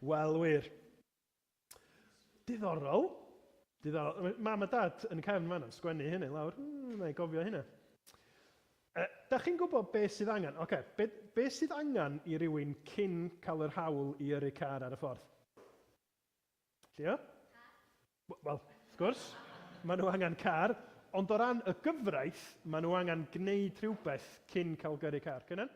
Wel, wir. Diddorol. Diddorol. Mam a dad yn y cefn fan yn sgwennu hynny lawr. Mm, na i gofio hynna. E, da chi'n gwybod beth sydd angen? Oce, okay, beth be sydd angen i rywun cyn cael yr hawl i yrru car ar y ffordd? Llio? Wel, wrth gwrs, maen nhw angen car, ond o ran y gyfraith, maen nhw angen gwneud rhywbeth cyn cael gyrru car. Cynan?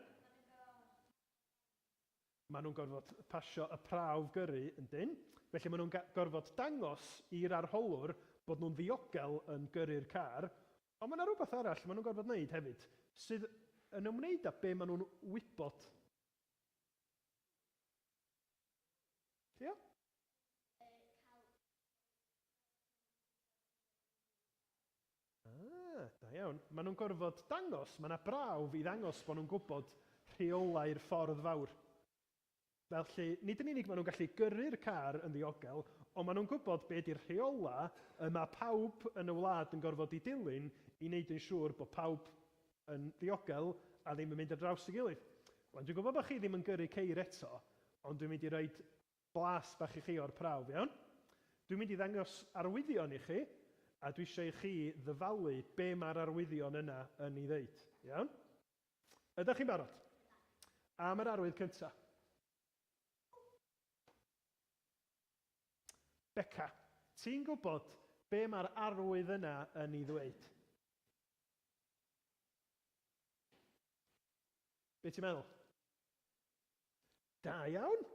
Maen nhw'n gorfod pasio y prawf gyrru, yndyn? Felly maen nhw'n gorfod dangos i'r arholwr bod nhw'n ddiogel yn gyrru'r car, ond mae yna rywbeth arall maen nhw'n gorfod wneud hefyd sydd yn ymwneud â be maen nhw'n wybod. Ia? Ah, da iawn. Maen nhw'n gorfod dangos, mae yna brawf i ddangos bod nhw'n gwybod rheolau'r ffordd fawr. Felly, nid yn unig maen nhw'n gallu gyrru'r car yn ddiogel, ond maen nhw'n gwybod be ydy'r rheolau y mae pawb yn y wlad yn gorfod ei dilyn i wneud yn siŵr bod pawb yn ddiogel a ddim yn mynd ar draws ei gilydd. Wan, dwi'n gwybod bod chi ddim yn gyrru ceir eto, ond dwi'n mynd i roid Blas bach i chi o'r prawf, iawn? Dwi'n mynd i ddangos arwyddion i chi, a dwi eisiau i chi ddyfalu be' ma'r arwyddion yna yn 'i ddeud. Iawn? Ydach chi'n barod? Am yr arwydd cynta. Beca, ti'n gwbod be' ma'r arwydd yna yn 'i ddweud? Be' ti'n meddwl? Da iawn!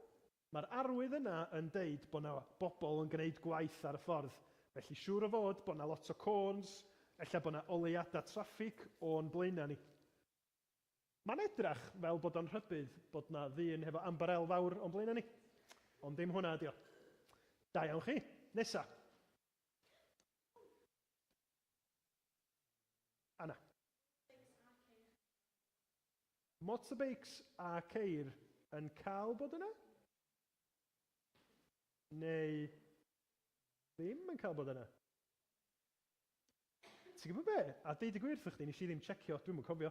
Mae'r arwydd yna yn deud bod 'na bobl yn gwneud gwaith ar y ffordd, felly siŵr o fod bod 'na lot o côns, ella bod 'na oleuadau traffig o'n blaenau ni. Mae'n edrach fel bod o'n rhybudd bod 'na ddyn hefo ambarel fawr o'n blaenau ni. Ond ddim hwnna ydi o. Da iawn chi! Nesa! Anna. Motorbeics a ceir yn cael bod yna? Neu ddim yn cael bod yna? Ti'n gwybod be? A deud y gwir wrthych chdi, nes i ddim tsecio, dwi'm yn cofio.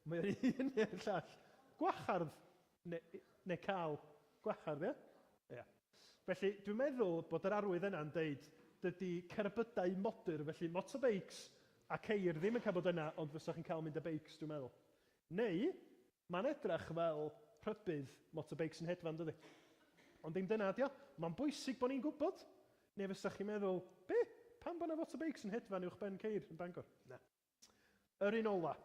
Mae o'r un neu'r llall. Gwahardd ne- neu cael gwahardd, ia? Ia. Felly, dwi'n meddwl bod yr arwydd yna'n deud dydy cerbydau modur, felly motorbeics a ceir ddim yn cael bod yna, ond fysa chi'n cael mynd â beics, dwi'n meddwl. Neu, mae'n edrych fel rhybudd motorbeic sy'n hedfan, dydi? Ond dim dyna ydi o. Mae'n bwysig bod ni'n gwybod. Neu fysach chi'n meddwl, be? Pam bod 'na fotorbeics yn hedfan uwch ben ceir yn Bangor? Na. Yr un ola.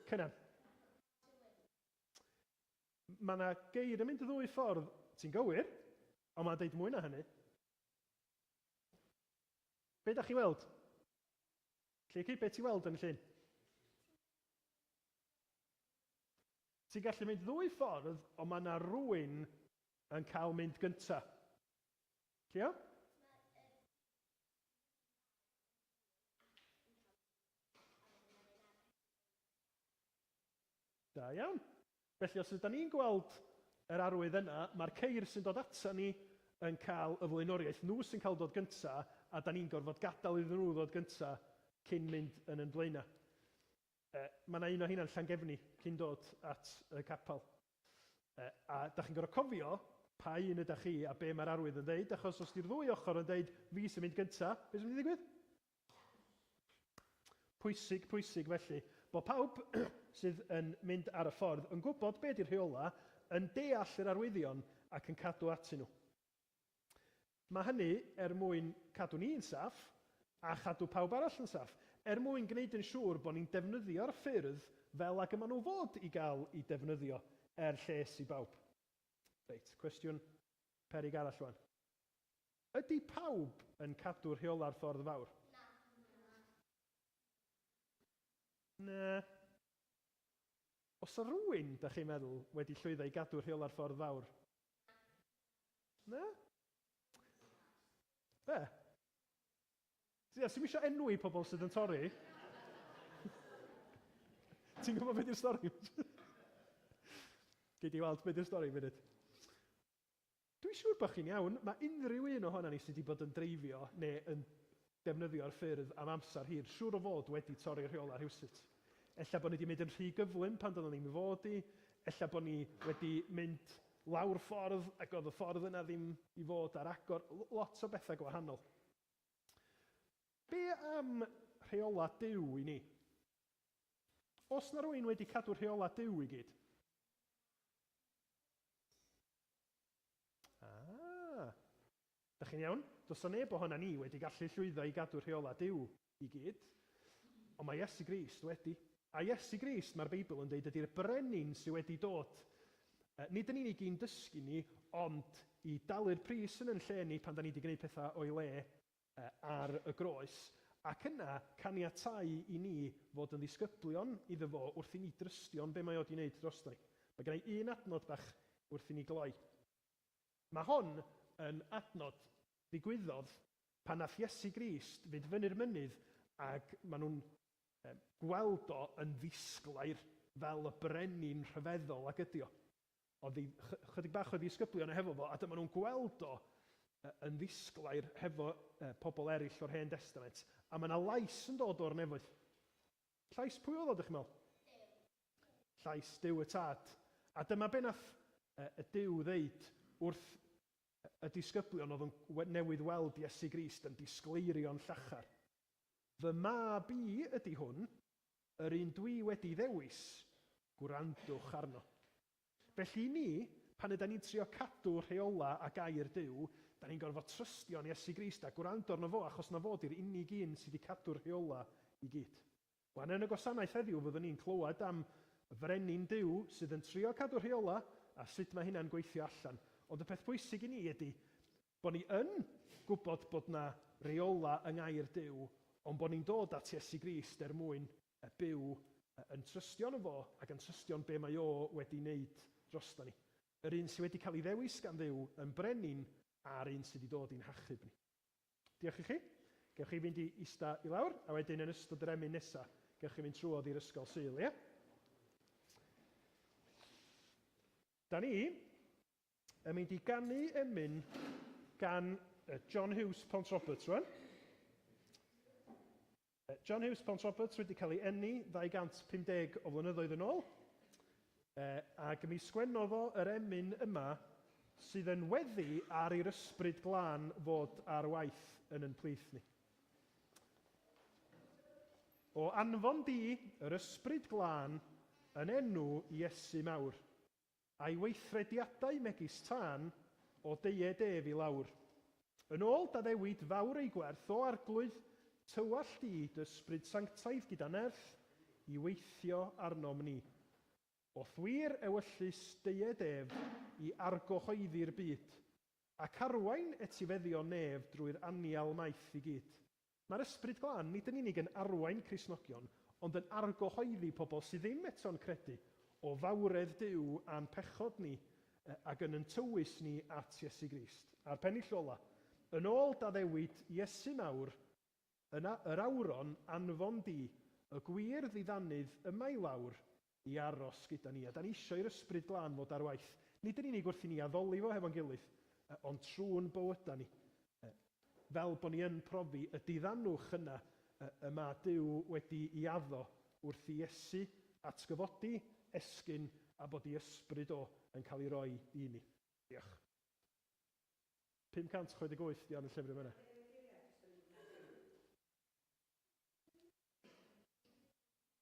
Cynan. Mae 'na geir yn mynd y ddwy ffordd, ti'n gywir, ond mae'n deud mwy na hynny. Be da chi weld? Lleucu, be ti weld yn y llun? Ti'n gallu mynd ddwy ffordd, ond mae yna rwy'n yn cael mynd gynta. Cleo? Da iawn. Felly os ydan ni'n gweld yr arwydd yna, mae'r ceir sy'n dod atan ni yn cael y flaenoriaeth, nhw sy'n cael dod gynta, a 'dan ni'n gorfod gadael iddyn nhw ddod gynta cyn mynd yn yn flaena'. E, Mae 'na un o heina'n Llangefni cyn dod at y capel. E, A 'dach chi'n gorfod cofio pa un ydach chi a be' mae'r arwydd yn ddeud, achos os 'di'r ddwy ochr yn deud 'fi sy'n mynd gynta', be' sy'n mynd i ddigwydd? Pwysig, pwysig, felly, bod pawb sydd yn mynd ar y ffordd yn gwybod be 'di'r rheolau, yn deall yr arwyddion ac yn cadw atyn nhw. Mae hynny er mwyn cadw ni'n saff a chadw pawb arall yn saff, er mwyn gwneud yn siŵr bod ni'n defnyddio'r ffyrdd fel ag y maen nhw fod i gael eu defnyddio, er lles i bawb. Reit, cwestiwn peryg arall rŵan. Ydy pawb yn cadw rheola'r ffordd fawr? Na. Oes rhywun, dach chi'n meddwl, wedi llwyddo i gadw rheola'r ffordd fawr? Na. Be? Ia, ti'm isio enwi pobl sydd yn torri. Ti'n gwybod be 'di'r stori? Gei di weld be 'di'r stori yn funud. Dwi'n siŵr bod chi'n iawn, mae unrhyw un ohonan ni sy' 'di bod yn dreifio neu yn defnyddio'r ffyrdd am amser hir siŵr o fod wedi torri rheolau rhywsut. Ella bod ni 'di mynd yn rhy gyflym pan doeddan ni'm i fod i, ella bod ni wedi mynd lawr ffordd ac oedd y ffordd yna ddim i fod ar agor, l- lot o bethau gwahanol. Be' am rheolau Duw i ni? Oes 'na rywun wedi cadw rheolau Duw i gyd? Ah! Dach chi'n iawn? Does 'na neb ohonan ni wedi gallu llwyddo i gadw rheolau Duw i gyd, ond mae Iesu Grist wedi. A Iesu Grist, mae'r Beibl yn deud, ydi'r brenin sydd wedi dod, yy, nid yn unig i'n dysgu ni, ond i dalu'r pris yn yn lle ni pan 'dan ni 'di gwneud pethau o'i le. ar y groes, ac yna caniatáu i ni fod yn ddisgyblion iddo fo wrth i ni drystio'n be mae o 'di wneud drosto ni. Mae gen i un adnod bach wrth i ni gloi. Mae hon yn adnod ddigwyddodd pan nath Iesu Grist fynd fyny'r mynydd ac maen nhw'n gweld o yn ddisglair fel y brenin rhyfeddol ag ydi o. Ond y chydig bach o ddisgyblion o hefo fo, a dyma nhw'n gweld o yn ddisglair hefo pobl eraill o'r Hen Destament, a mae yna lais yn dod o'r nefoedd. Llais pwy oedd o, dych chi'n meddwl? Llais Duw y Tad. A dyma be nath y Duw ddeud wrth y disgyblion oedd yn newydd weld Iesu Grist yn disgleirio'n llachar. Fy mab i ydy hwn. Yr un dwi wedi ddewis, gwrandwch arno. Felly i ni, pan ydan ni'n trio cadw rheola a gair Duw, dan ni'n gorfod trystio yn Iesu Grist a gwrando arno fo achos na fo di'r unig un sy di cadw'r rheola i gyd. Wan yn y gwasanaeth heddiw fyddwn ni'n clywed am Frenin Duw sydd yn trio cadw rheola a sut mae hynna'n gweithio allan. Ond y peth pwysig i ni ydi, Bod ni yn gwybod bod yna reolau yng Ngair Duw, ond bod ni'n dod at Iesu Grist er mwyn yy byw yy yn trystio yno fo ac yn trystio yn be mae o wedi wneud drosto ni. Yr un sy wedi cael ei ddewis gan Dduw yn Brenin a'r un sydd i ddod i'n hachub ni. Diolch i chi. Gewch chi fynd i ista i lawr, a wedyn yn ystod yr emyn nesa, gewch chi fynd trwodd i'r ysgol Sul, ie? Da ni Yn mynd i ganu emyn gan John Hughes Pont Roberts rwan. John Hughes Pont Roberts wedi cael ei enni 250 o flynyddoedd yn ôl. E, ac mi sgwennodd o yr emyn yma sydd yn weddi ar i'r ysbryd glân fod ar waith yn yn plith ni. O anfon di yr ysbryd glân yn enw Iesu mawr. a'i weithrediadau megis tân o deued ef i lawr. Yn ôl daddewid fawr ei gwerth o arglwydd tywallt i d'Ysbryd Sanctaidd gyda nerth i weithio arnom ni. O'th wir ewyllys deued ef i argyhoeddi'r byd, ac arwain etifeddion nef drwy'r anial maith i gyd. Mae'r Ysbryd Glân nid yn unig yn arwain Cristnogion, ond yn argyhoeddi pobl sydd ddim eto'n credu, o fawredd Duw a'n pechod ni, ac yn yn tywys ni at Iesu Grist, a'r pennill ola'. Yn ôl d'addewid Iesu mawr, Yna yr awron anfon di y gwir ddiddanydd yma i lawr, i aros gyda ni, a da ni isio i'r Ysbryd Glân fod ar waith, nid yn unig wrth i ni addoli fo hefo'n gilydd, ond trw'n bywydau ni, fel bod ni yn profi y diddanwch yna y mae Duw wedi i addo wrth i Iesu atgyfodi, esgyn, a bod i Ysbryd o yn cael ei roi i ni. Diolch. 568 di hon yn llyfr yn fan'na.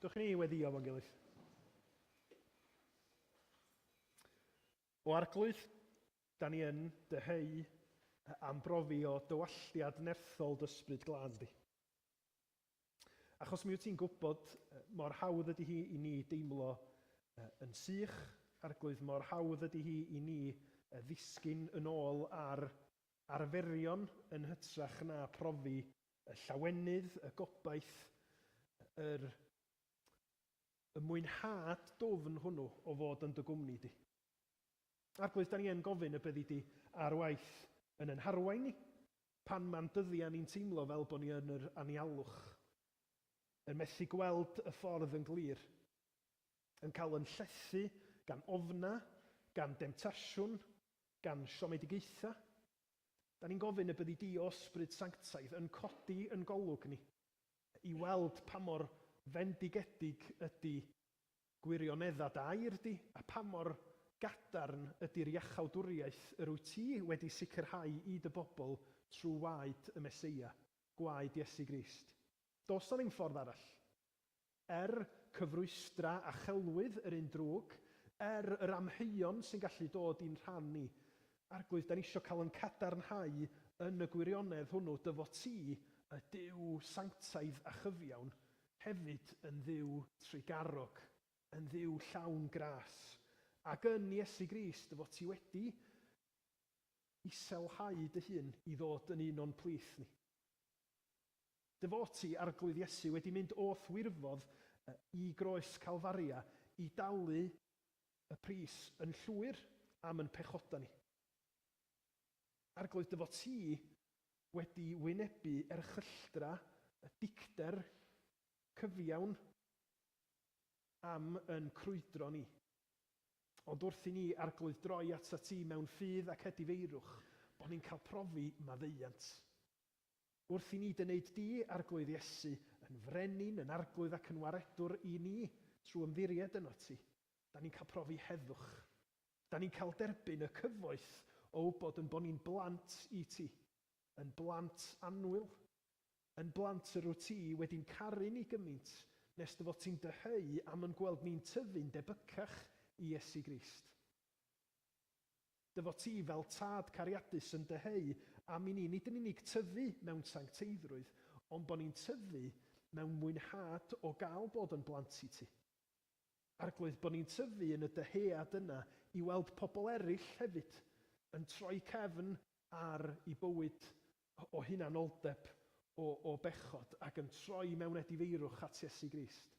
Dwch ni weddio fo'n gilydd. O Arglwydd, da ni yn dyheu am brofi o dywalltiad nerthol d'Ysbryd Glân di. Achos mi wyt ti'n gwybod mor hawdd ydy hi i ni deimlo yn sych, Arglwydd, mor hawdd ydy hi i ni ddisgyn yn ôl ar arferion yn hytrach na profi y llawenydd, y gobaith, yr y mwynhad dwfn hwnnw o fod yn dy gwmni di. Arglwydd, da ni yn gofyn y byddi di ar waith yn yn harwain ni pan ma'n dyddia ni'n teimlo fel bo ni yn yr anialwch, yn methu gweld y ffordd yn glir, yn cael yn llethu gan ofna, gan demtasiwn, Gan siomedigaethau, da ni'n gofyn y byddi Di o Ysbryd Sanctaidd yn codi yn golwg ni, i weld pa mor fendigedig ydi gwirioneddau Dy air Di, a pa mor gadarn ydi'r iachawdwriaeth yr wyt Ti wedi sicrhau i Dy bobl trwy waed y Meseia, gwaed Iesu Grist. Does 'na ddim ffordd arall. Er cyfrwystra a chelwydd yr un drwg. Er yr amheuon sy'n gallu dod i'n rhan ni. Arglwydd, dan ni isio cael yn cadarnhau yn y gwirionedd hwnnw dy fod ti, y Duw sanctaidd a chyfiawn, hefyd yn Dduw trugarog, yn Dduw llawn gras, ac yn Iesu Grist dy fod ti wedi iselhau dy hun i ddod yn un o'n plith ni. Devotee, Arglwydd Iesu, wedi mynd o'th wirfodd i groes Calfaria i dalu y pris yn llwyr am yn pechoda ni. Arglwydd Devotee wedi wynebu erchylltra y dicter cyfiawn am yn crwydro ni. Ond wrth i ni, Arglwydd, droi atat ti mewn ffydd ac edifeirwch, bod ni'n cael profi maddeuant. Wrth i ni dynneud du, Arglwydd Iesu, yn Frenin, yn Arglwydd ac yn Waredwr i ni, trwy ymddiried yno Ti, da ni'n cael profi heddwch. Da ni'n cael derbyn y cyfoeth o wybod yn bo ni'n blant i Ti, yn blant annwyl, yn blant yr wyt Ti wedi'n caru ni gymint nes dy fod Ti'n dyheu am yn gweld ni'n tyfu'n debycach i Iesu Grist. Dy fod ti fel Tad cariadus yn dyheu am i ni nid yn unig tyfu mewn sancteiddrwydd, ond bod ni'n tyfu mewn mwynhad o gael bod yn blant i ti. Arglwydd, bod ni'n tyfu yn y dyhead yna i weld pobl eraill hefyd yn troi cefn ar eu bywyd o hunanoldeb, o bechod, ac yn troi mewn edifeirwch at Iesu Grist.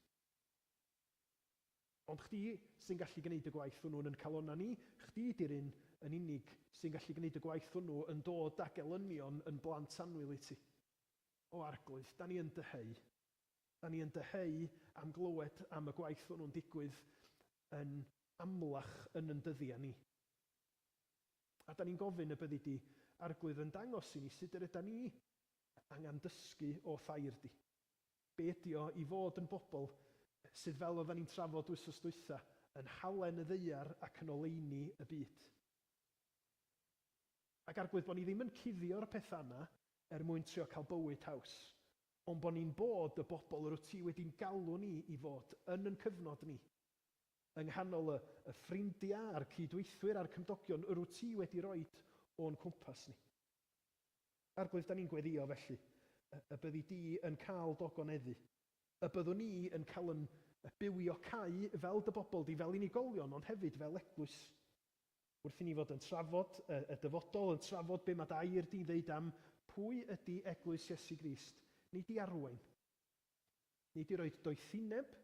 Ond chdi sy'n gallu gneud y gwaith hwnnw yn 'n calonna ni, chdi 'di'r un yn unig sy'n gallu gneud y gwaith hwnnw yn dod ag elynion 'n blant annwyl i ti. O Arglwydd, 'da ni yn dyheu. 'Da ni yn dyheu am glywed am y gwaith hwnnw'n digwydd yn amlach yn 'n dyddia ni. A 'da ni'n gofyn y byddi di, Arglwydd, yn dangos i ni sut yr yda ni angan dysgu o thair di. Be ydi o i fod yn bobl sydd, fel oeddan ni'n trafod wythnos dwytha, yn halen y ddaear ac yn oleuni y byd? Ac arglwydd bo' ni ddim yn cuddio'r petha yna er mwyn trio cael bywyd haws, ond bo' ni'n bod y bobl yr wyt ti wedi'n galw ni i fod yn yn cyfnod ni, yng nghanol y y ffrindia a'r cyd-weithwyr a'r cymdogion yr wyt ti wedi roid o'n cwmpas ni. Arglwydd, da ni'n gweddïo, felly, y byddi di yn cael dy ogoneddu. Y byddwn ni yn cael yn bywio cau fel dy bobl di, fel unigolion, ond hefyd fel eglwys. Wrth i ni fod yn trafod y dyfodol, yn trafod be mae dy air di'n ddeud am pwy ydi Eglwys Iesu Grist, nid i arwain, nid i roi doethineb,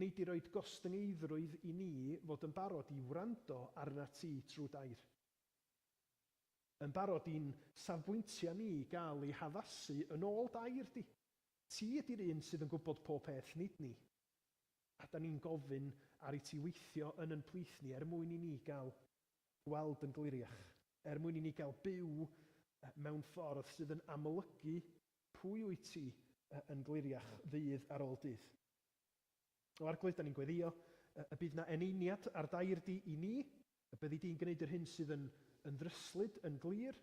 nid i roi gostyngeiddrwydd i ni fod yn barod i wrando arnat ti trwy dy air. Yn barod i'n safbwyntiau ni gael eu haddasu yn ôl dair di. Ti ydy'r un sydd yn gwybod pob peth, nid ni. A 'da ni'n gofyn ar i ti weithio yn yn plith ni er mwyn i ni gael gweld yn gliriach, er mwyn i ni gael byw mewn ffordd sydd yn amlygu pwy wyt ti yn gliriach ddydd ar ôl dydd. O Arglwydd, 'da ni'n gweddïo y bydd 'na eneiniad ar dair di i ni. A byddi di'n gwneud yr hyn sydd yn yn ddryslyd, yn glir?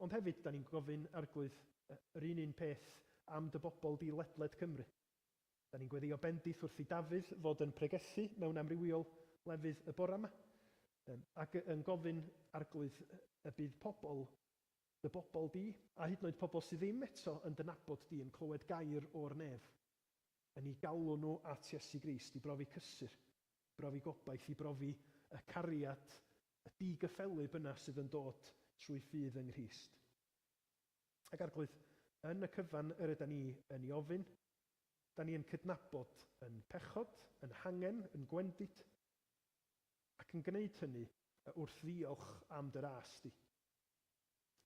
Ond hefyd, 'da ni'n gofyn, Arglwydd, yr un un peth am dy bobl di ledled Cymru. Da ni'n gweddïo bendith wrth i Dafydd fod yn pregethu mewn amrywiol lefydd y bora 'ma, yym, ac yn gofyn, Arglwydd, y bydd pobl, dy bobl di, a hyd yn oed pobl sydd ddim eto yn dy nabod di, yn clywed gair o'r nef. yn eu galw nhw at Iesu Grist, i brofi cysur, i brofi gobaith, i brofi y cariad, y digyffelyb yna sydd yn dod trwy ffydd yng Nghrist. Ac Arglwydd, yn y cyfan yr yda ni yn ei ofyn, da ni yn cydnabod yn pechod, yn hangen, yn gwendid, ac yn gwneud hynny wrth ddiolch am dy ras di.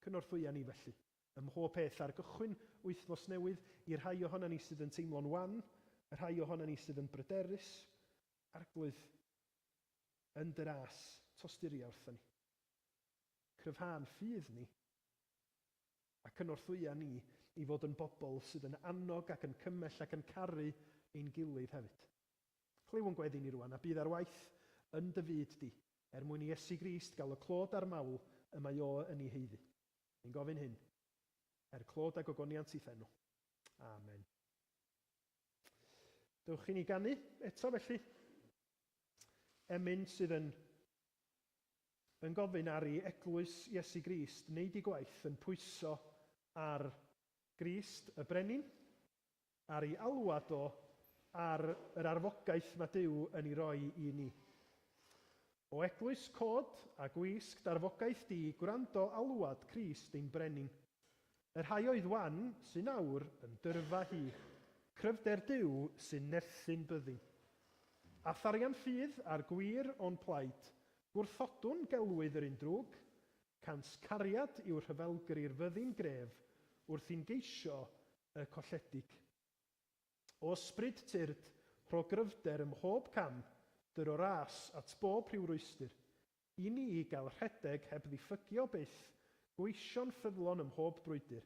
Cynorthwya ni felly, Ym mhob peth ar gychwyn wythnos newydd, i'r rhai ohonan ni sydd yn teimlo'n wan, y rhai ohonan ni sydd yn bryderus, Arglwydd, yn dy ras, tosturia wrthon ni. Cryfhâ'n ffydd ni, a cynorthwya ni i fod yn bobl sydd yn annog ac yn cymell ac yn caru ein gilydd hefyd. Clyw o'n gweddi ni rŵan, a bydd ar waith yn dy fyd di, er mwyn i Iesu Grist gael y clod a'r mawl y mae O yn ei haeddu. Ni'n gofyn hyn, er clod a gogoniant i Phen o. Amen. Dewch i ni ganu eto felly. Emyn sydd yn yn gofyn ar i eglwys Iesu Grist wneud i gwaith yn pwyso ar Grist y Brenin, ar ei alwad o, ar yr arfogaeth mae Duw yn ei roi i ni. O Eglwys cod a gwisg d'arfogaeth di gwrando alwad Crist ein Brenin. Y rhai oedd wan sy'n awr yn dyrfa hi, cryfder Duw sy'n nerthin byddin. A tharian ffydd a'r gwir o'n plaid, gwrthodwn gelwydd yr un drwg, Cant cariad yw rhyfelgri'r fyddin gref wrth i'n geisio y colledig. O ysbryd tyrd, rho gryfder ym mhob cam, dy ro ras at bob rhyw rwystyr. I ni i gael rhedeg heb ddiffygio byth, gweision ffyddlon ym mhob brwydr.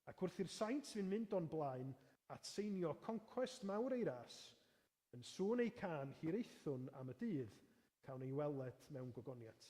Ac wrth i'r saint fyn mynd o'n blaen at seinio concwest mawr ei ras, yn sŵn ei cân hiraethwn am y dydd cawn ei weled mewn gogoniant.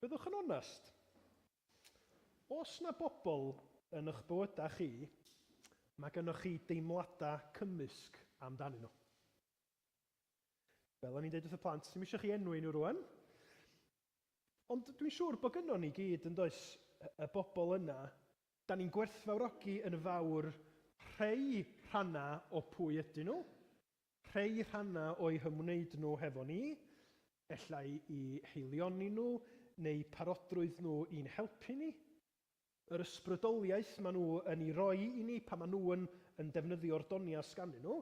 Byddwch yn onest. Os na bobl yn eich bywydau chi, mae gennych chi deimladau cymysg amdanyn nhw. Fel o'n i'n dweud wrth y plant, ddim eisiau chi enwi nhw rwan. Ond dwi'n siŵr bod gynnon ni gyd yn does y bobl yna Da ni'n gwerthfawrogi yn fawr rhei rhannau o pwy ydyn nhw, rhei rhannau o'u hymwneud nhw hefo ni, ella'u haelioni nhw neu parodrwydd nhw i'n helpu ni, yr ysbrydoliaeth maen nhw yn ei roi i ni pan maen nhw yn yn defnyddio'r doniau sganddyn nhw,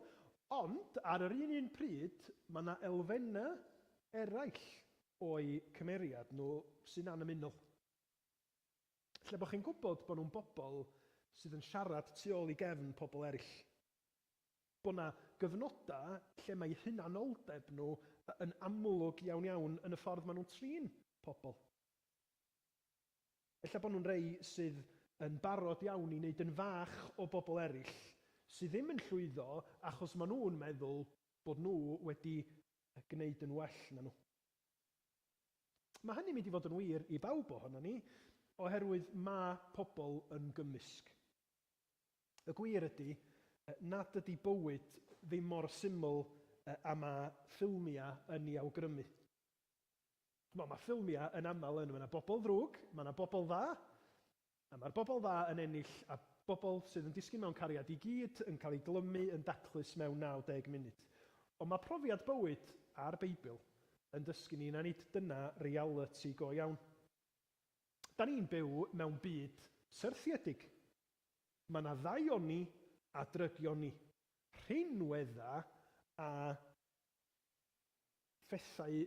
ond ar yr un un pryd mae 'na elfennau eraill o'u cymeriad nhw sy'n annymunol. Lle bod chi'n gwybod bod nhw'n bobl sydd yn siarad tu ôl i gefn pobl eraill. Bod 'na gyfnodau lle mae eu hunanoldeb nhw yn amlwg iawn iawn yn y ffordd maen nhw'n trin pobl. Ella bod nhw'n rhai sydd yn barod iawn i wneud yn fach o bobl eraill sydd ddim yn llwyddo achos maen nhw'n meddwl bod nhw wedi gwneud yn well na nhw. Mae hynny'n mynd i fod yn wir i bawb ohonon ni, oherwydd mae pobl yn gymysg. Y gwir ydy nad ydy bywyd ddim mor syml â mae ffilmiau yn ei awgrymu. Wel, mae ffilmiau yn aml yn, mae 'na bobl ddrwg, mae 'na bobl dda, A mae'r bobl dda yn ennill a bobl sydd yn disgyn mewn cariad i gyd yn cael ei glymu yn daclus mewn 90 munud. Ond mae profiad bywyd, a'r Beibl, yn dysgu ni na nid dyna realiti go iawn. Da ni'n byw mewn byd syrthiedig. Mae 'na ddaioni a drygioni. Rhinweddau a phethau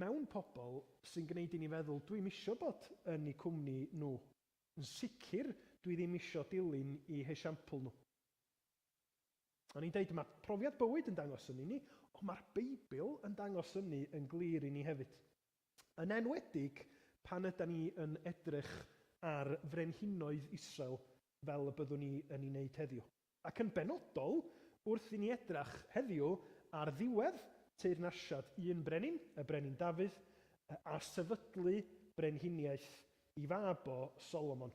mewn pobl sy'n gneud i ni feddwl dwi'm isio bod yn i cwmni nhw, yn sicr dwi ddim isio dilyn i hesiampl nhw. O'n i'n deud, mae profiad bywyd yn dangos hynny i ni, ond mae'r Beibl yn dangos hynny yn glir i ni hefyd. Yn enwedig pan ydan ni yn edrych ar frenhinoedd Israel fel y byddwn ni yn ei wneud heddiw. ac yn benodol wrth i ni edrach heddiw ar ddiwedd teyrnasiad un brenin, y Brenin Dafydd, a sefydlu brenhiniaeth i fab o, Solomon.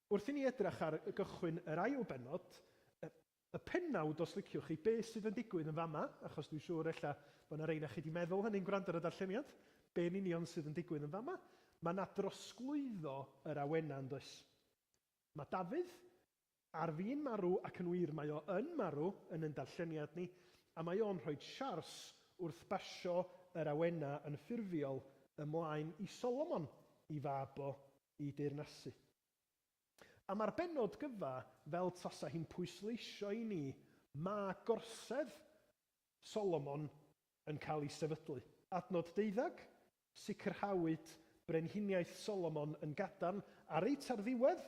Wrth i ni edrach ar gychwyn yr ail bennod, y pennawd os liciwch chi, be sydd yn digwydd yn fama, achos dwi'n siŵr ella bod yna rei onoch chi di meddwl hynny'n gwrando ar y darlleniad, be yn union sydd yn digwydd yn fama? Mae yna drosglwyddo yr awenau yn does? Mae Dafydd ar fin marw ac yn wir mae o yn marw yn yn darlleniad ni a mae o'n rhoid siars wrth basio yr awena yn ffurfiol ymlaen i Solomon, i fab o, i deyrnasu. A mae'r bennod gyfa fel tasa hi'n pwysleisio i ni ma gorsedd Solomon yn cael ei sefydlu. Adnod deuddeg, Sicrhawyd Brenhiniaeth Solomon yn gadarn a reit ar ddiwedd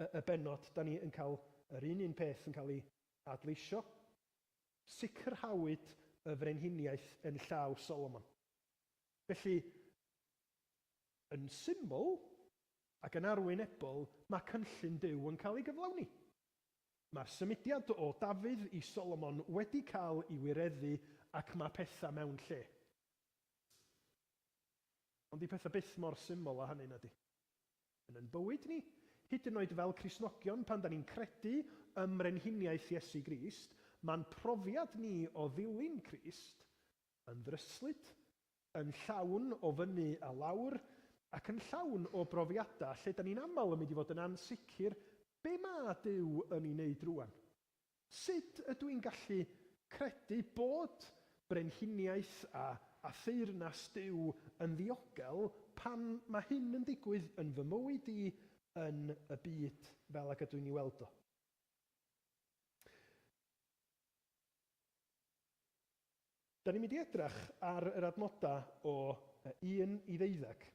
y y bennod 'dan ni yn cael yr un un peth yn cael ei adleisio, Sicrhawyd y Frenhiniaeth yn llaw Solomon. Felly, yn syml ac yn arwynebol, mae cynllun Duw yn cael ei gyflawni. Mae'r symudiad o Dafydd i Solomon wedi cael ei wireddu ac mae pethau mewn lle. Ond dyw pethau byth mor syml â hynny, na 'di? Yn ein bywyd ni, hyd yn oed fel Cristnogion, pan 'da ni'n credu ym mrenhiniaeth Iesu Grist, ma'n profiad ni o ddilyn Crist yn ddryslyd, yn llawn o fyny a lawr, ac yn llawn o brofiadau lle 'da ni'n aml yn mynd i fod yn ansicr, 'Be mae Duw yn ei wneud rŵan? Sut ydw i'n gallu credu bod brenhiniaeth a a theyrnas Duw yn ddiogel pan mae hyn yn digwydd yn fy mywyd i yn y byd fel ag ydw i'n ei weld o? Da ni'n mynd i edrach ar yr adnodau o 1 i ddeuddeg,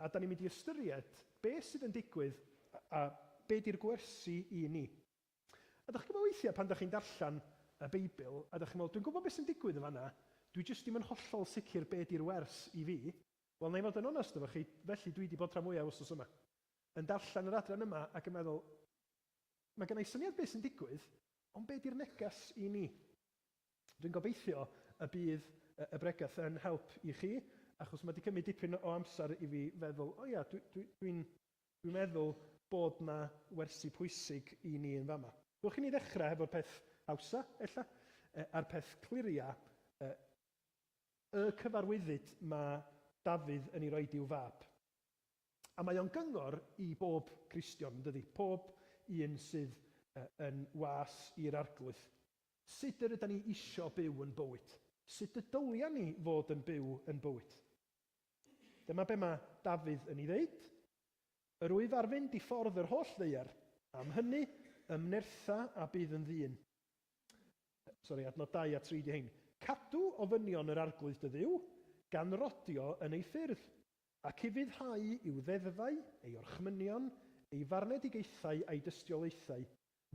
a da ni'n mynd i ystyried be sydd yn digwydd a be di'r gwersi i ni. A dach chi'n gwybod weithiau pan dach chi'n darllen y Beibl a dach chi'n meddwl, dwi'n gwybod beth sy'n digwydd yn fan'na, dwi jyst ddim yn hollol sicr be di'r wers i fi. Wel, na i fod yn onest efo chi, felly dwi di bod rhan fwya wsnos yma yn darllen yr adran yma ac yn meddwl, mae gynna i syniad be sy'n digwydd, ond be di'r neges i ni? Dwi'n gobeithio y bydd y bregeth yn help i chi, achos mae di cymryd dipyn o amser i fi feddwl, o ia, dwi, dwi, dwi'n, Dwi'n meddwl bod 'na wersi pwysig i ni yn fama. Dewch i ni ddechrau hefo'r peth hawsa, ella, a'r peth cliria, y cyfarwyddyd ma' Dafydd yn ei roid i'w fab. A mae o'n gyngor i bob Cristion, yndydi, pob un sydd yn was i'r Arglwydd. Sut yr ydan ni isio byw yn bywyd? Sut y dylia ni fod yn byw yn bywyd? Dyma be mae Dafydd yn ei ddeud, Yr wyf ar fynd i ffordd yr holl ddaear, am hynny, ymnertha a bydd yn ddyn. Sori, adnod 2 a 3 ydy hein. Cadw ofynion yr Arglwydd dy Dduw, gan rodio yn ei ffyrdd, ac ufuddhau i'w ddeddfau, ei orchmynion, ei farnedigaethau a'i dystiolaethau,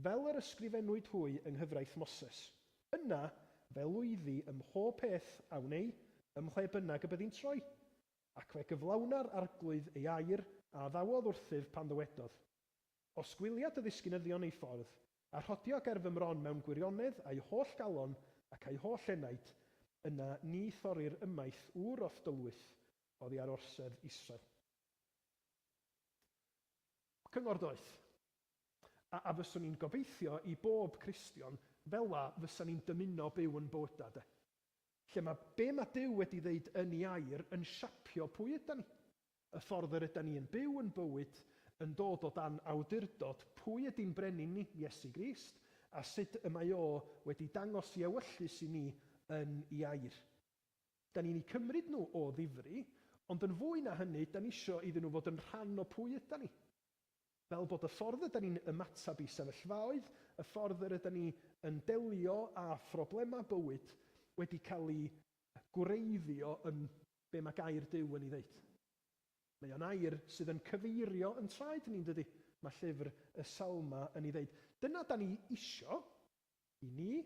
Fel yr ysgrifennwyd hwy yng nghyfraith Moses, Yna fe lwyddi ym mhob peth a wnei, ym mhle bynnag y byddi'n troi. Ac fe gyflawna'r Arglwydd ei air a addawodd wrthyf pan ddywedodd, Os gwylia dy ddisgynyddion eu ffordd, a rhodio ger fy mron mewn gwirionedd a'u holl galon ac a'u holl enaid, yna ni thorrir ymaith ŵr o'th dylwyth oddi ar orsedd Israel. Cyngor doeth. A a fyswn i'n gobeithio i bob Cristion fela fysa ni'n dymuno byw yn bywyda, de? Lle ma' be' ma' Duw wedi ddeud yn 'i Air yn siapio pwy ydan ni. Y ffordd yr ydan ni yn byw yn bywyd yn dod o dan awdurdod pwy ydi'n Brenin ni, Iesu Grist, a sud y mae O wedi dangos 'i ewyllys i ni yn 'i Air. 'Dan ni'n 'u cymryd nhw o ddifri, ond yn fwy na hynny, 'dan ni isio iddyn nhw fod yn rhan o pwy ydan ni. Fel bod y ffordd yda ni'n ymateb i sefyllfaoedd, y ffordd yr yda ni yn delio â phroblemau bywyd wedi cael ei gwreiddio yn be mae gair Duw yn ei ddeud. Mae o'n air sydd yn cyfeirio yn traed ni, yn dydi? Mae llyfr y Salmau yn ei ddeud. Dyna da ni isio i ni,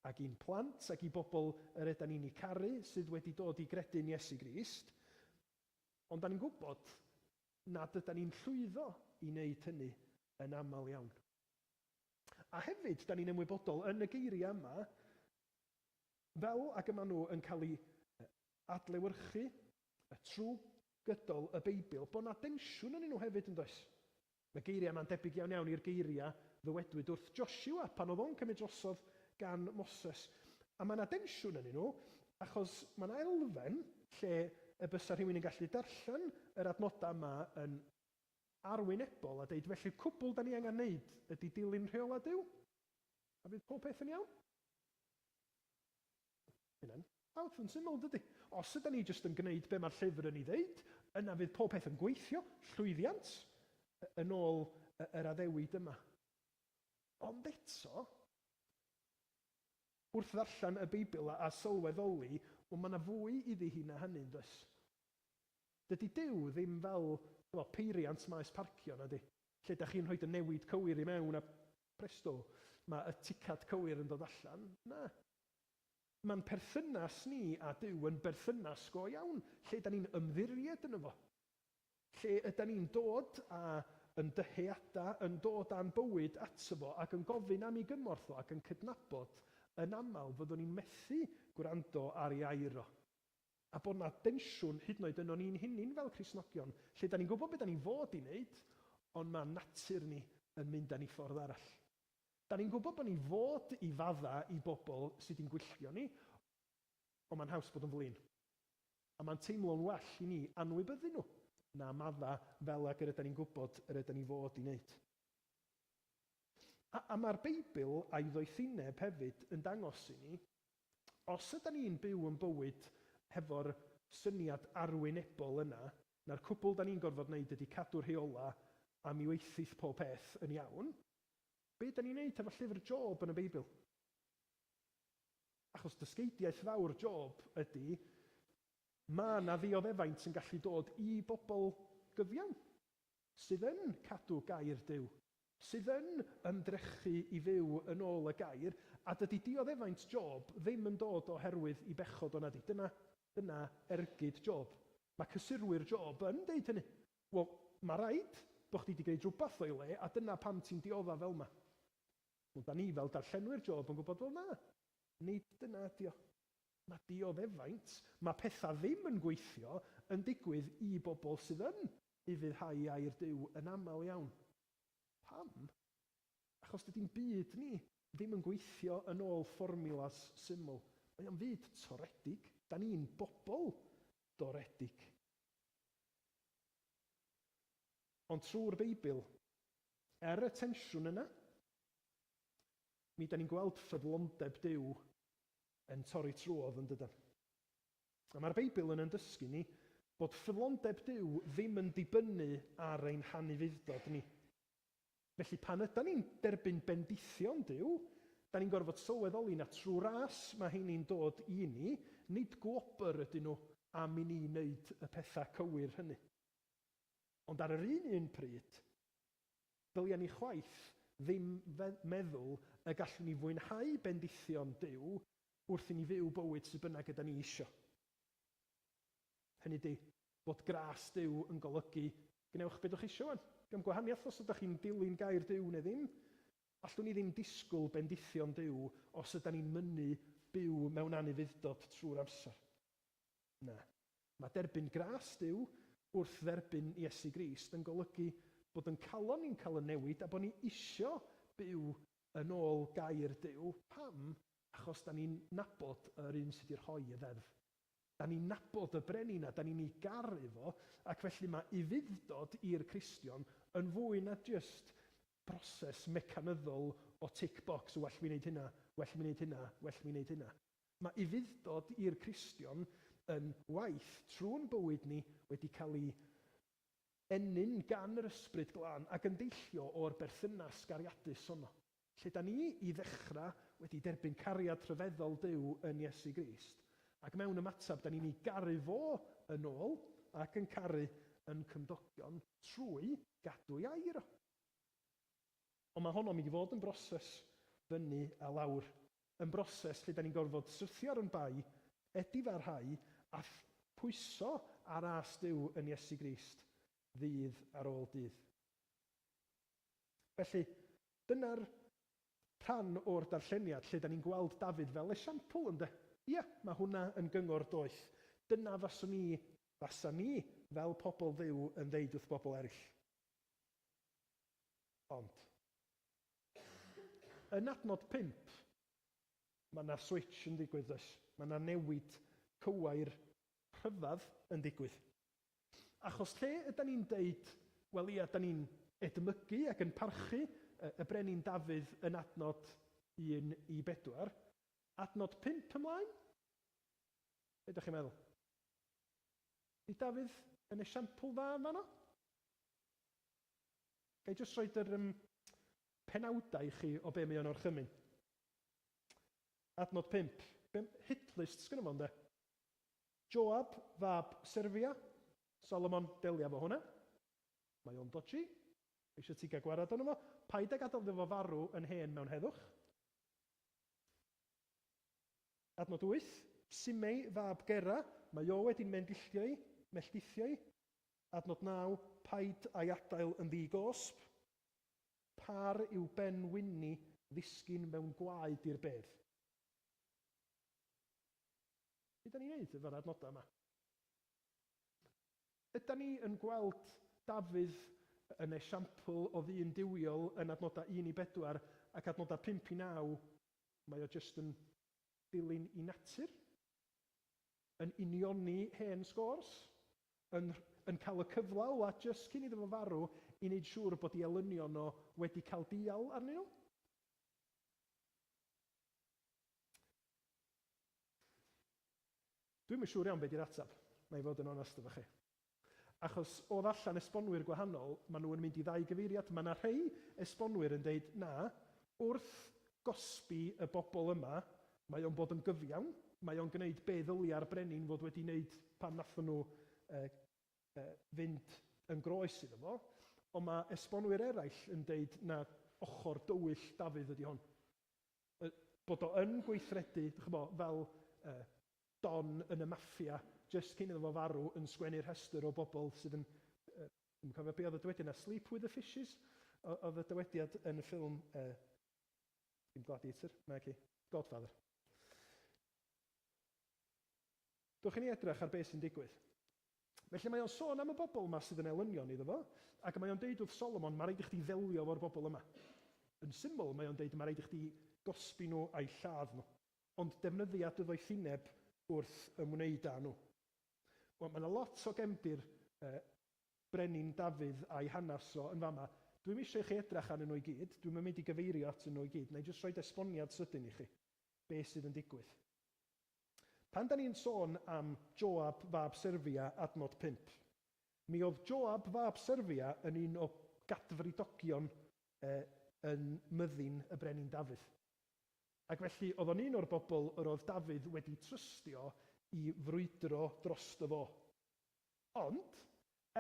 ac i'n plant, ac i bobl yr yda ni'n eu caru sydd wedi dod i gredu'n Iesu Grist. Ond da ni'n gwybod nad ydan ni'n llwyddo i wneud hynny yn aml iawn. A hefyd, dan ni'n ymwybodol, yn y geiriau yma, fel ag y maen nhw yn cael eu adlewyrchu trwy gydol y Beibl, bod 'na densiwn ynnyn nhw hefyd, yn does? Mae geiriau yma'n debyg iawn iawn i'r geiriau ddywedwyd wrth Josiwa pan oedd o'n cymryd drosodd gan Moses. A mae 'na densiwn ynnyn nhw, Achos mae yna elfen lle y bysa rhywun yn gallu darllen yr adnodau yma yn arwynebol a deud, felly'r cwbl da ni angen neud ydi dilyn rheolau Duw, a fydd pob peth yn iawn? Mae hynna'n out yn syml, yn dydi? Os yda ni jyst yn gneud be mae'r llyfr yn ei ddeud, yna fydd pob peth yn gweithio, llwyddiant, yn ôl yr addewid yma. Ond eto, Wrth ddarllen y Beibl a a sylweddoli, O, mae yna fwy iddi hi na hynny, yn does? Dydy Duw ddim fel, chibod, peiriant maes parcio, na 'di? Lle dach chi'n rhoi dy newid cywir i mewn a, presto, mae y ticad cywir yn dod allan. Na. Mae'n perthynas ni a Duw yn berthynas go iawn, lle 'da ni'n ymddiried yno fo. Lle ydan ni'n dod a yn dyheada, yn dod a'n bywyd ato fo ac yn gofyn am ei gymorth o ac yn cydnabod yn aml fyddwn ni'n methu gwrando ar ei air o. A bod 'na densiwn hyd yn oed yno ni'n hunin fel Cristnogion, lle 'dan ni'n gwybod be 'dan ni'n fod i wneud, ond ma' natur ni yn mynd â ni ffordd arall. 'Dan ni'n gwybod bod ni fod i fadda i bobl sy 'di'n gwylltio ni, Ond mae'n haws bod yn flin. A mae'n teimlo'n well i ni anwybyddu nhw na maddau fel ag yr ydan ni'n gwybod yr ydan ni fod i wneud. A, a mae'r Beibl a'i ddoethineb hefyd yn dangos i ni, os ydan ni'n byw yn bywyd hefo'r syniad arwynebol yna, na'r cwbl dan ni'n gorfod wneud ydy cadw rheolau a mi weithith pob peth yn iawn, be dan ni'n wneud hefo llyfr Job yn y Beibl? Achos dysgeidiaeth fawr Job ydy, mae yna ddioddefaint yn gallu dod i bobl gyfiawn, sydd yn cadw gair Duw, sydd yn ymdrechu i fyw yn ôl y gair, a dydy dioddefaint Job ddim yn dod oherwydd i bechod o nadi, dyna, dyna ergyd Job. Mae cysurwyr Job yn deud hynny. Wel, mae rhaid bod chdi 'di gwneud rhywbeth o'i le a dyna pam ti'n diodda' fel 'ma. Wel, 'da ni fel darllenwyr Job yn gwybod, wel, na, nid dyna ydy o. Mae dioddefaint, mae pethau ddim yn gweithio, yn digwydd i bobl sydd yn ufuddhau i air Duw yn aml iawn. Pam? Achos dydy'n byd ni ddim yn gweithio yn ôl fformiwlas syml. Mae o'n fyd toredig. Da ni'n bobl doredig. Ond trwy'r Beibl, er y tensiwn yna, mi ydan ni'n gweld ffyddlondeb Duw yn torri trwodd, yn dydan? A mae'r Beibl yn yn dysgu ni bod ffyddlondeb Duw ddim yn dibynnu ar ein hanufudd-dod ni. Felly, pan ydan ni'n derbyn bendithion Duw, dan ni'n gorfod sylweddoli na trwy ras mae heini'n dod i ni, nid gwobr ydyn nhw am i ni wneud y pethau cywir hynny. Ond ar yr un un pryd, dylia ni chwaith ddim meddwl y gallwn ni fwynhau bendithion Duw wrth i ni fyw bywyd sut bynnag yda ni isio. Hynny ydi, bod gras Duw yn golygu gwnewch be dwch chi isio wan. Diom gwahaniath os ydach chi'n dilyn gair Duw neu ddim. Allwn ni ddim disgwyl bendithion Duw os yda ni'n mynnu byw mewn anufudd-dod trwy'r amser. Na. Mae derbyn gras Duw wrth dderbyn Iesu Grist yn golygu bod yn calon ni'n cael y newid a bod ni isio byw yn ôl gair Duw. Pam? Achos da ni'n nabod yr un sy di rhoi y ddeddf. Da ni'n nabod y Brenin a da ni'n ei garu fo ac felly mae ufudd-dod i'r Cristion yn fwy na jyst broses mecanyddol o tick box, well mi wneud hynna, well mi wneud hynna, well mi wneud hynna. Mae ufudd-dod i'r Cristion yn waith trw'n bywyd ni wedi cael ei ennyn gan yr Ysbryd Glân ac yn deillio o'r berthynas gariadus honno. Lle da ni i ddechrau wedi derbyn cariad rhyfeddol Duw yn Iesu Grist, ac mewn ymateb da ni'n ei garu fo yn ôl ac yn caru yn cymdogion trwy gadw ei air o. Ond mae honno'n mynd i fod yn broses fyny a lawr. yn broses lle dan ni'n gorfod syrthio ar yn bai, edifarhau a phwyso ar âs Duw yn Iesu Grist ddydd ar ôl dydd. Felly, dyna'r rhan o'r darlleniad lle dan ni'n gweld Dafydd fel esiampl, ynde? Ia, mae hwnna yn gyngor doeth. Dyna faswn i, fasa ni fel pobl Dduw yn ddeud wrth bobl eraill. Ond. Yn adnod pump, mae 'na switsh yn digwydd, does? Mae 'na newid cywair rhyfedd yn digwydd. Achos lle ydan ni'n deud, wel ia, 'dan ni'n edmygu ac yn parchu y Brenin Dafydd yn adnod un i bedwar, adnod pump ymlaen? Be' 'dach chi'n meddwl? Ydy Dafydd yn esiampl dda yn fan'no? Ga i jyst roid yr um, penawdau i chi o be mae o'n orchymyn? Adnod 5. Be, hitlist sgynno fo ynde? Joab fab Serfia, Salomon, delia fo hwnna. Mae o'n dodgy. Mae eisiau ti gael gwarad arno fo. Paid a gadael iddo fo farw yn hen mewn heddwch. Adnod 8. Simei fab Gera, mae o wedi mendilltio i, melltithio i. Adnod 9, Paid â'i adael yn ddi-gosb. Pâr yw Ben Winni ddisgyn mewn gwlau dur bedd. Be' 'dan ni'n neud efo'r adnoda' 'ma? Ydan ni yn gweld Dafydd yn esiampl o ddyn duwiol yn adnoda' un i bedwar ac adnoda' pump i naw mae o jyst yn dilyn 'i natur? yn unioni hen scores, yn yn cael y cyfle ola jyst cyn iddo fo farw i neud siŵr bod i elynion o wedi cael dial arnyn nhw. Dwi'm yn siŵr iawn be di'r atab, na i fod yn onast efo chi. Achos o ddarllen esbonwyr gwahanol, maen nhw yn mynd i ddau gyfeiriad. Mae 'na rhei esbonwyr yn deud, na, wrth gosbi y bobl yma, mae o'n bod yn gyfiawn, mae o'n gneud be ddylie'r brenin fod wedi neud pan nathon nhw fynd yn groes iddo fo. Ond mae esbonwyr eraill yn deud, na, ochr dywyll Dafydd ydi hon. Bod o yn gweithredu, dych ch'bo', fel Don yn y Maffia jyst cyn iddo fo farw yn sgwennu rhestr o bobl sydd yn, yy, dwi'm yn cofio be' oedd y dywediad 'na, Sleep with the Fishes? O- oedd y dywediad yn y ffilm, yy, dim Gladiator, naci, Godfather. Dowch i ni edrych ar be' sy'n digwydd. Felly mae o'n sôn am y bobl 'ma sydd yn elynion iddo fo, ac mae o'n deud wrth Solomon, 'Ma raid i chdi ddelio efo'r bobl yma. Yn syml, mae o'n deud, 'Ma raid i chdi gosbi nhw a'u lladd nhw. Ond defnyddia dy ddoethineb wrth ymwneud â nhw. Wel, mae 'na lot o gefndir yy Brenin Dafydd a'i hanes o yn fama. Dwi'm eisiau i chi edrach arnyn nhw i gyd, dwi'm yn mynd i gyfeirio atyn nhw i gyd, wna i jyst roid esboniad sydyn i chi, be' sydd yn digwydd. Pan 'dan ni'n sôn am Joab fab Serfia, adnod pump, mi o'dd Joab fab Serfia yn un o gadfridogion yy yn myddin y Brenin Dafydd. Ac felly oedd o'n un o'r bobl yr oedd Dafydd wedi trystio i frwydro drosto fo. Ond,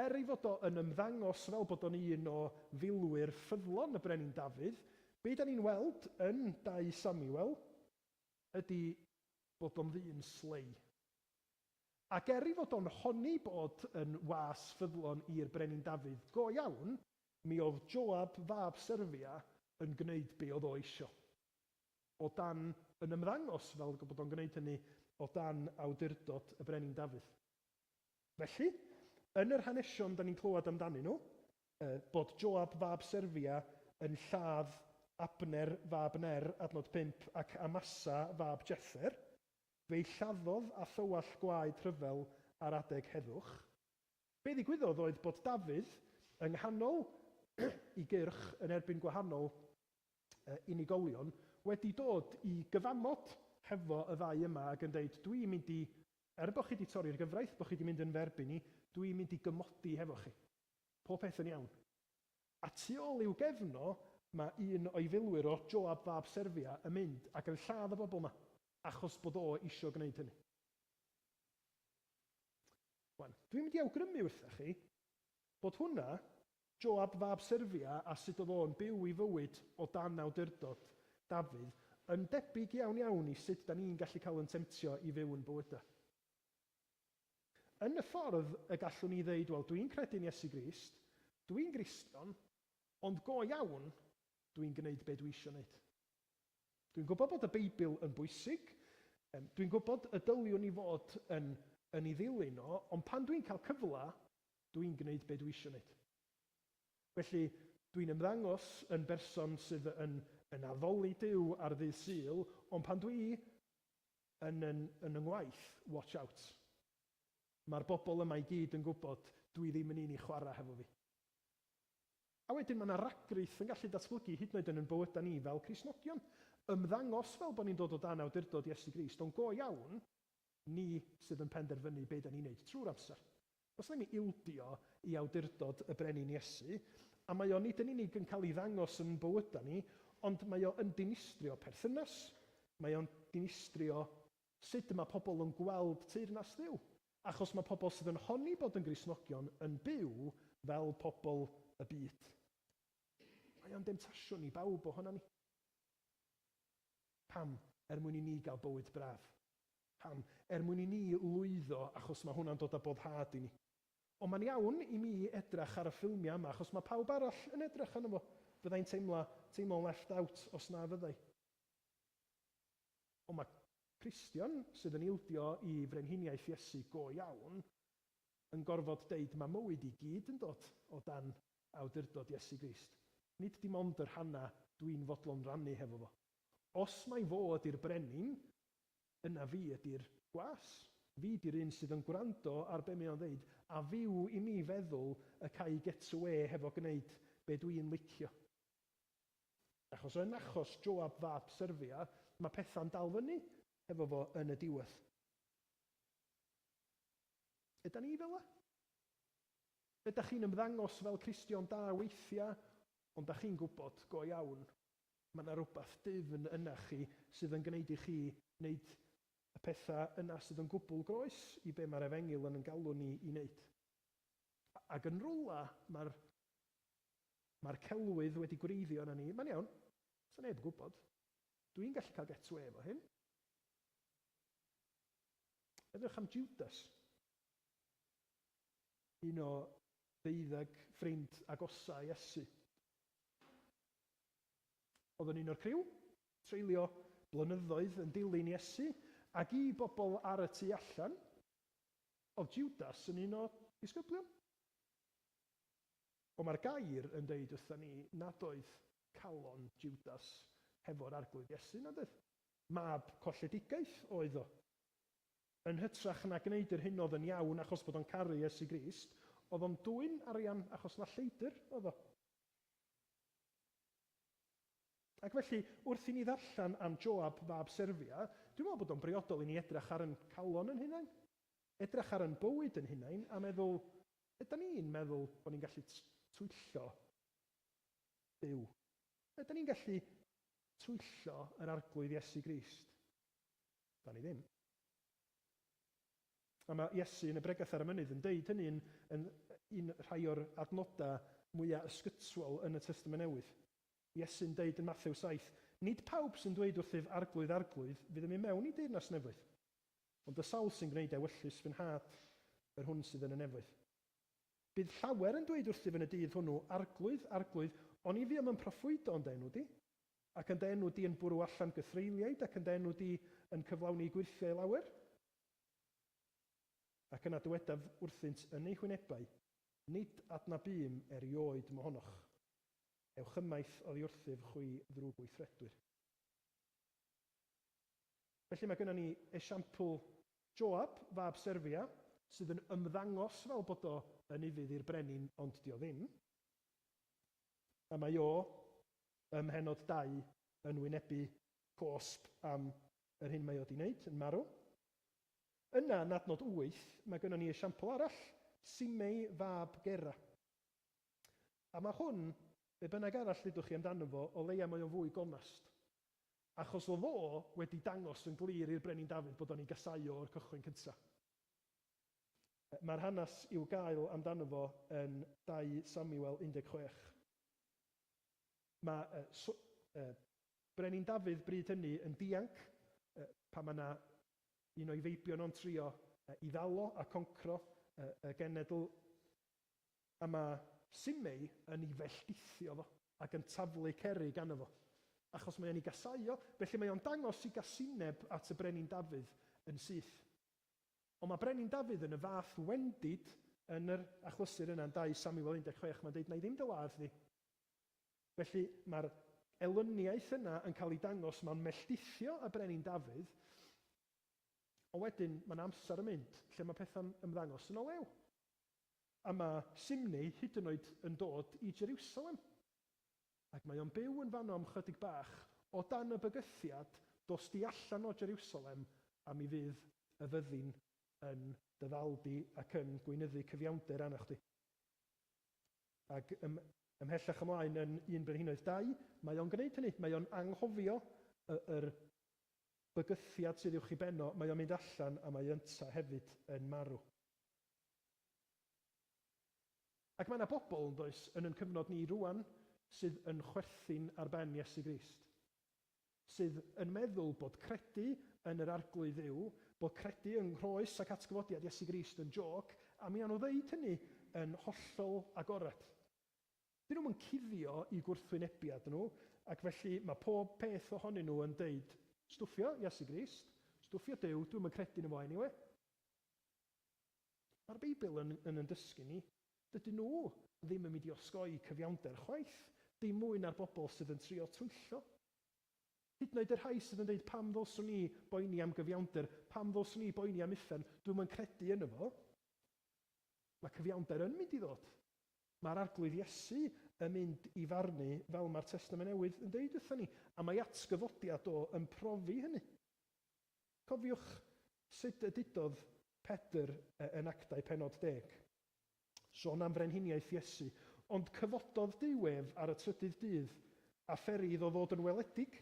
er ei fod o yn ymddangos fel bod o'n un o filwyr ffyddlon y Brenin Dafydd, be' 'dan ni'n weld yn Dau Samuel ydi bod o'n ddyn slei. Ac er ei fod o'n honni bod yn was ffyddlon i'r Brenin Dafydd go iawn, Mi oedd Joab fab Serfia yn gwneud be oedd o eisio, o dan yn ymddangos fel bod o'n gwneud hynny o dan awdurdod y Brenin Dafydd. Felly, yn yr hanesion da ni'n clywed amdanyn nhw, yy, bod Joab fab Serfia yn lladd Abner fab Ner, adnod pump, ac Amasa fab Jether, fe'i lladdodd â thywallt gwaed rhyfel ar adeg heddwch. Be ddigwyddodd oedd bod Dafydd yng nghanol i gyrch yn erbyn gwahanol unigolion wedi dod i gyfamod hefo y ddau yma ag yn deud dw i'n mynd i, er bod chi di torri'r gyfraith, bod chi di mynd yn fy erbyn i, dw i'n mynd i gymodi hefo chi. Pob peth yn iawn. A tu ôl i'w gefn o mae un o'i filwyr o Joab fab Serfia yn mynd ac yn lladd y bobl yma achos bod o isio gwneud hynny. Wan, dwi'n mynd i awgrymu wrthach chi, bod hwnna, Joab fab Serfia a sut oedd o'n byw ei fywyd o dan awdurdod Dafydd, yn debyg iawn iawn i sut dan ni'n gallu cael yn temtio i fyw yn bywydau. Yn y ffordd y gallwn ni ddeud, wel, dwi'n credu'n Iesu Grist, dwi'n Gristion, ond go iawn, dwi'n gwneud be dwi isio wneud. Dwi'n gwybod bod y Beibl yn bwysig, dwi'n gwybod y dyliwn ni fod yn yn ei ddilyn o, ond pan dwi'n cael cyfle, dwi'n gwneud be dwi eisiau wneud. Felly, dwi'n ymddangos yn berson sydd yn yn addoli Duw ar ddydd Sul, ond pan dwi yn yn yn 'y ngwaith, watch out. Mae'r bobl yma i gyd yn gwybod dwi ddim yn un i chwarae hefo fi. A wedyn, mae 'na ragrith yn gallu datblygu hyd yn oed yn yn bywydau ni fel Cristnogion. Ymddangos fel bod ni'n dod o dan awdurdod Iesu Grist, ond go iawn, ni sydd yn penderfynu be' 'dan ni'n neud trw'r amser. Os wnei mi ildio i awdurdod y Brenin Iesu, a mae o nid yn unig yn cael ei ddangos yn bywydau ni, ond mae o yn dinistrio perthynas, mae o'n dinistrio Sut y mae pobl yn gweld teyrnas Dduw? Achos mae pobl sydd yn honni bod yn Gristnogion yn byw fel pobl y byd. Mae o'n demtasiwn i bawb ohonan ni. Pam? Er mwyn i ni gael bywyd braf. Pam? Er mwyn i ni lwyddo, achos mae hwnna'n dod â boddhad i ni. Ond mae'n iawn i mi edrach ar y ffilmiau yma achos mae pawb arall yn edrach arno fo. Fydda i'n teimla, teimlo'n left out os na fyddai. Ond mae Cristion sydd yn ildio i Frenhiniaeth Iesu go iawn yn gorfod deud mae mywyd i gyd yn dod o dan awdurdod Iesu Grist, nid dim ond y rhannau dwi'n fodlon rannu hefo fo. Os mai fo ydy'r brenin, yna fi ydy'r gwas. Fi 'di'r un sydd yn gwrando ar be mae o'n ddeud, a fyw i mi feddwl y ca i get awê hefo gneud be dwi'n licio. Achos yn achos Joab fab Serfia, mae pethau'n dal fyny hefo fo yn y diwedd. Ydan ni fel 'na? Ydach chi'n ymddangos fel Cristion da weithiau, ond dach chi'n gwybod go iawn mae 'na rywbeth dwfn yna chi sydd yn gwneud i chi wneud y pethau yna sydd yn gwbl groes i be mae'r Efengyl yn yn galw ni i wneud? Ac yn rywle, mae'r. Mae'r celwydd wedi gwreiddio arna ni. Mae'n iawn. Sa neb yn gwybod. Dw i'n gallu cael get-awê efo hyn. Meddyliwch am Jwdas. Un o ddeuddeg ffrind agosa Iesu. Oedd yn un o'r criw. Treulio blynyddoedd yn dilyn Iesu. Ac i bobl ar y tu allan, oedd Jwdas yn un o ddisgyblion. Ond mae'r gair yn deud wrthon ni nad oedd calon Jwdas hefo'r Arglwydd Iesu, nad oedd? Mab colledigaeth oedd o. Yn hytrach na gneud yr hyn oedd yn iawn achos bod o'n caru Iesu Grist, oedd o'n dwyn arian achos na lleidr oedd o. Ac felly, wrth i ni ddarllen am Joab fab Serfia, dwi'n meddwl bod o'n briodol i ni edrych ar yn calon yn hunain, edrych ar yn bywyd yn hunain a meddwl, Ydan ni'n meddwl bod ni'n gallu twyllo Duw? Ydan ni'n gallu twyllo yr Arglwydd Iesu Grist? Da ni ddim. A mae Iesu yn y Bregeth ar y Mynydd yn deud hynny yn yn un rhai o'r adnodau mwyaf ysgytwol yn y Testament Newydd. Iesu'n deud yn Mathew 7, Nid pawb sy'n dweud wrthyf Arglwydd, Arglwydd, fydd yn mynd mewn i Deyrnas Nefoedd. Ond y sawl sy'n gwneud ewyllys fy nhad, yr hwn sydd yn y nefoedd. Bydd llawer yn dweud wrthyf yn y dydd hwnnw, Arglwydd, Arglwydd, oni fuom yn proffwydo yn dy enw di, ac yn dy enw di yn bwrw allan gythreuliaid, ac yn dy enw di yn cyflawni gwyrthiau lawer? Ac yna dywedaf wrthynt yn eu hwynebau, Nid adnabûm erioed mohonoch. Ewch ymaith oddi wrthyf, chwi ddrwgweithredwyr. Felly mae gynnon ni esiampl. Joab, fab Serfia, sydd yn ymddangos fel bod o yn ufudd i'r brenin ond 'di o ddim. A mae o, ym mhennod dau, yn wynebu cosb am yr hyn mae o 'di neud, yn marw. Yna, yn adnod wyth, mae gynnon ni esiampl arall, Simei, fab Gera. A mae hwn, be' bynnag arall ddudwch chi amdano fo, o leia mae o'n fwy gonast. Achos o fo wedi dangos yn glir i'r Brenin Dafydd bod o'n ei gasau o o'r cychwyn cynta. Mae'r hanes i'w gael amdano fo yn 2 Samuel 16. Mae y Brenin Dafydd bryd hynny yn dianc pan mae 'na un o'i feibion o'n trio i ddalo a concro y genedl a mae Simei yn ei felltithio fo ac yn taflu Ceri ganddo fo. Achos mae o'n ei gasáu o, felly mae o'n dangos ei gasineb at y Brenin Dafydd yn syth. Ond mae Brenin Dafydd yn y fath wendid yn yr achlysur yna yn 2 Samuel 16, mae'n deud, 'Wna i ddim dy ladd di. Felly, mae'r elyniaeth yna yn cael ei dangos, mae'n melltithio y Brenin Dafydd, ond wedyn mae 'na amser yn mynd lle mae pethau'n ymddangos yn o lew. A mae Simnei hyd yn oed yn dod i Jeriwsalem. Ac mae o'n byw yn fanno am 'chydig bach, o dan y bygythiad, dos di allan o Jeriwsalem, a mi fydd y fyddin yn dy ddal di ac yn gweinyddu cyfiawnder arna chdi. Ac ym, ymhellach ymlaen yn Un Brenhinoedd dau, mae o'n gwneud hynny. Mae o'n anghofio y, yr bygythiad sydd uwch i ben o, mae o'n mynd allan a mae ynta hefyd yn marw. Ac mae yna bobl, yn does, yn ein cyfnod ni rŵan sydd yn chwerthin ar ben Iesu Grist. Sydd yn meddwl bod credu yn yr Arglwydd Dduw, bod credu yng nghroes ac atgyfodiad Iesu Grist yn jôc, a mi awn nhw ddeud hynny yn hollol agored. Dyn nhw'm yn cuddio i gwrthwynebiad nhw, ac felly mae pob peth ohonyn nhw yn deud, Stwffio Iesu Grist, stwffio Duw, dwi'm yn credu yno fo eniwe. Mae'r Beibl yn yn yn dysgu ni, dydyn nhw ddim yn mynd i osgoi cyfiawnder chwaith, dim mwy na'r bobl sydd yn trio twyllo. Hyd yn oed y rhai sydd yn dweud pam ddylswn ni boeni am gyfiawnder, pam ddylswn ni boeni am uffern, dwi'm yn credu yno fo. Mae cyfiawnder yn mynd i ddod. Mae'r Arglwydd Iesu yn mynd i farnu fel mae'r Testament Newydd yn deud wrthon ni, a mae atgyfodiad o yn profi hynny. Cofiwch sut y dudodd Pedr yn Actau pennod deg. Son am frenhiniaeth Iesu. Ond cyfododd Duw ef ar y trydydd dydd, a pheri iddo ddod yn weledig.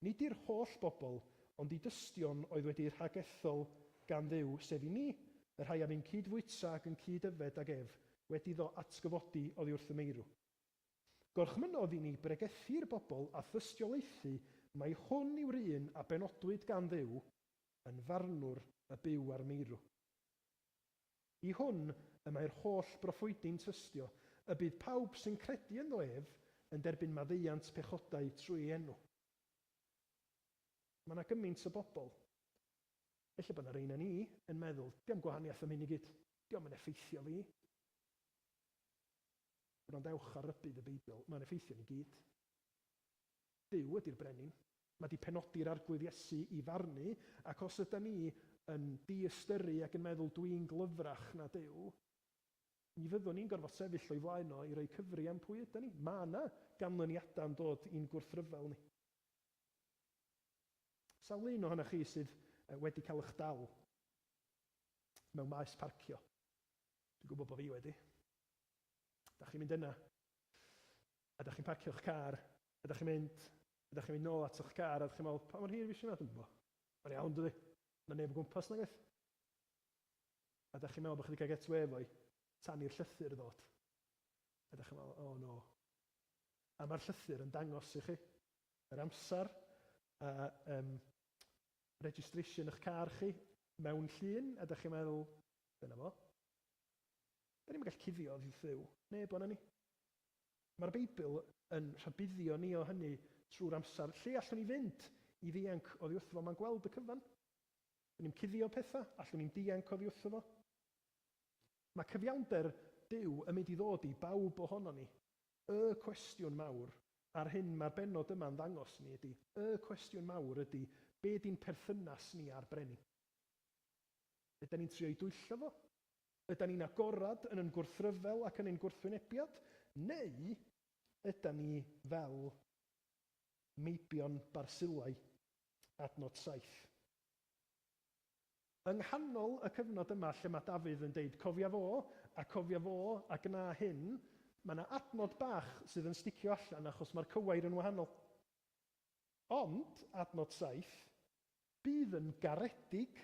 Nid i'r holl bobl, ond i dystion oedd wedi'u rhagethol gan Dduw, sef i ni, y rhai a fu'n cyd-fwyta ac yn cyd-yfed ag ef, wedi iddo atgyfodi oddi wrth y meirw. Gorchmynnodd i ni bregethu'r bobl a thystiolaethu mai hwn yw'r un a benodwyd gan Dduw, yn farnwr y byw a'r meirw. I hwn y mae'r holl broffwydi'n tystio, y bydd pawb sy'n credu ynddo ef yn derbyn maddeuant pechodau trwy ei enw. Mae yna gymaint o bobl, ella bod yna rei na ni, yn meddwl, 'Dio'm gwahaniaeth am hyn i gyd, 'dio'm yn effeithio fi. Gwrandewch ar rybudd y Beibl, mae'n effeithio ni gyd. Duw ydy'r Brenin. Mae 'di penodi'r Arglwydd Iesu i farnu, ac os yda ni yn diystyru ac yn meddwl 'dwi'n glyfrach na Duw, mi fyddwn ni'n gorfod sefyll o'i flaen o i roi cyfri am pwy yda ni. Mae yna ganlyniadau yn dod i'n gwrthryfel ni. Sawl un ohonoch chi sydd wedi cael eich dal mewn maes parcio? Dwi'n gwybod bod fi wedi. Dach chi'n mynd yna. A dach chi'n parcio'ch car. A dach chi'n mynd. A dach chi'n mynd nôl ato'ch car a dach chi'n meddwl, 'Pa mor hir fues i yma? Dwi'm yn gwybod. Mae'n iawn, dydi? Mae 'na neb o gwmpas nag oes? A dach chi'n meddwl bod chi 'di cael get away efo'i tan i'r llythyr ddod. A dach chi'n meddwl, 'O no. A mae'r llythyr yn dangos i chi yr amser a yym registration 'ych car chi mewn llun a dach chi'n meddwl, 'Dyna fo. Da ni'm yn gallu cuddio oddi wrth Dduw. Neb ohonon ni. Mae'r Beibl yn rhybuddio ni o hynny trwy'r amser. Lle allwn ni fynd i ddianc oddi wrtho fo? Mae'n gweld y cyfan. Da ni'm cuddio pethau, allwn ni'm dianc oddi wrtho fo. Mae cyfiawnder Duw yn mynd i ddod i bawb ohonon ni. Y cwestiwn mawr, a'r hyn mae'r bennod yma'n ddangos ni ydy, y cwestiwn mawr ydy, be di'n perthynas ni â'r Brenin? Ydan ni'n trio'i dwyllo fo? Ydan ni'n agored yn ein gwrthryfel ac yn ein gwrthwynebiad? Neu ydan ni fel meibion Barsilai, adnod saith? Yng nghanol y cyfnod yma lle mae Dafydd yn deud cofia fo, a cofia fo, a gwna hyn, mae 'na adnod bach sydd yn sticio allan achos mae'r cywair yn wahanol. Ond, adnod saith. Bydd yn garedig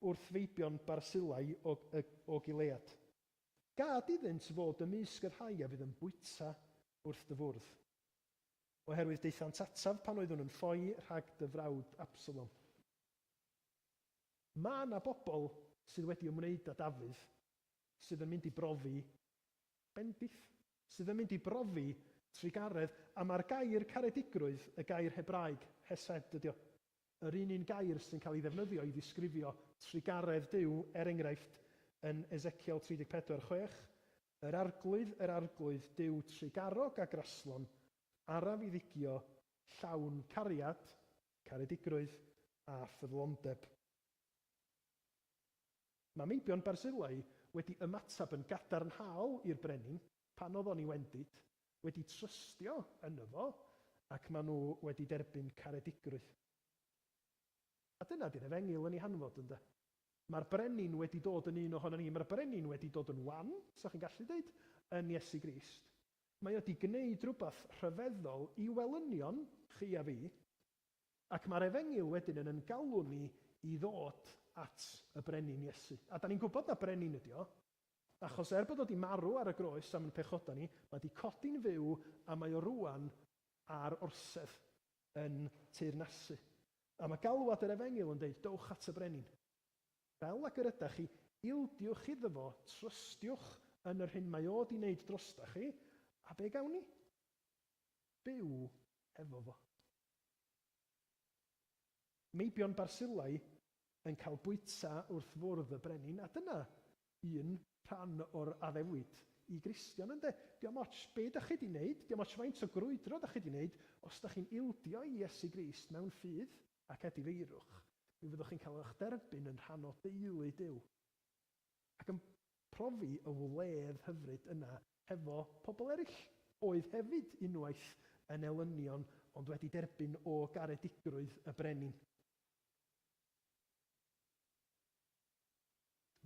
wrth feibion Barsilai o, y, o Gilead. Gad iddynt fod ymysg y rhai a fydd yn bwyta wrth dy fwrdd. Oherwydd daethant ataf pan oeddwn yn ffoi rhag dy frawd Absalom. Mae yna bobl sydd wedi ymwneud â Dafydd, sydd yn mynd i brofi bendith. sydd yn mynd i brofi trugaredd, a mae'r gair caredigrwydd, y gair Hebraeg hesed ydy o, yr un un gair sy'n cael ei ddefnyddio i ddisgrifio trugaredd Duw, er enghraifft, yn Ezekiel 34, 6, Yr Arglwydd, yr Arglwydd, Duw trugarog a graslon, araf i ddigio, llawn cariad, caredigrwydd, a ffyddlondeb. Mae meibion Barzillai wedi ymateb yn gadarnhaol i'r brenin pan oedd o'n iwendid, wedi trystio yno fo, ac maen nhw wedi derbyn caredigrwydd. A dyna di'r efengyl yn ei hanfod, ynde? Mae'r brenin wedi dod yn un ohonon ni. Mae'r brenin wedi dod yn wan, sa chi'n gallu deud, yn Iesu Grist. Mae o 'di gneud rhywbeth rhyfeddol i welynion chi a fi, Ac mae'r Efengyl wedyn yn yn galw ni i ddod at y Brenin Iesu. A dan ni'n gwybod na Brenin ydy o, achos er bod o di marw ar y groes am yn pechoda ni, mae di codi'n fyw a mae o rŵan ar orsedd yn teyrnasu. A mae galwad yr Efengyl yn deud, dowch at y Brenin. Fel ag yr ydach chi, ildiwch iddo fo, trystiwch yn yr hyn mae o di neud drostach chi, a be gawn ni? Byw efo fo. Meibion Barsillai yn cael bwyta wrth fwrdd y brenin, a dyna un rhan o'r addewid i Gristion ynde? Diom ots be dach chi di neud, diom ots faint o grwydro dach chi di neud, os dach chi'n ildio i Iesu Grist mewn ffydd ac edifeirwch, mi fyddwch chi'n cael ych derbyn yn rhan o deulu Duw. ac yn profi y wledd hyfryd yna hefo pobl eraill, oedd hefyd unwaith yn elynion ond wedi derbyn o garedigrwydd y brenin.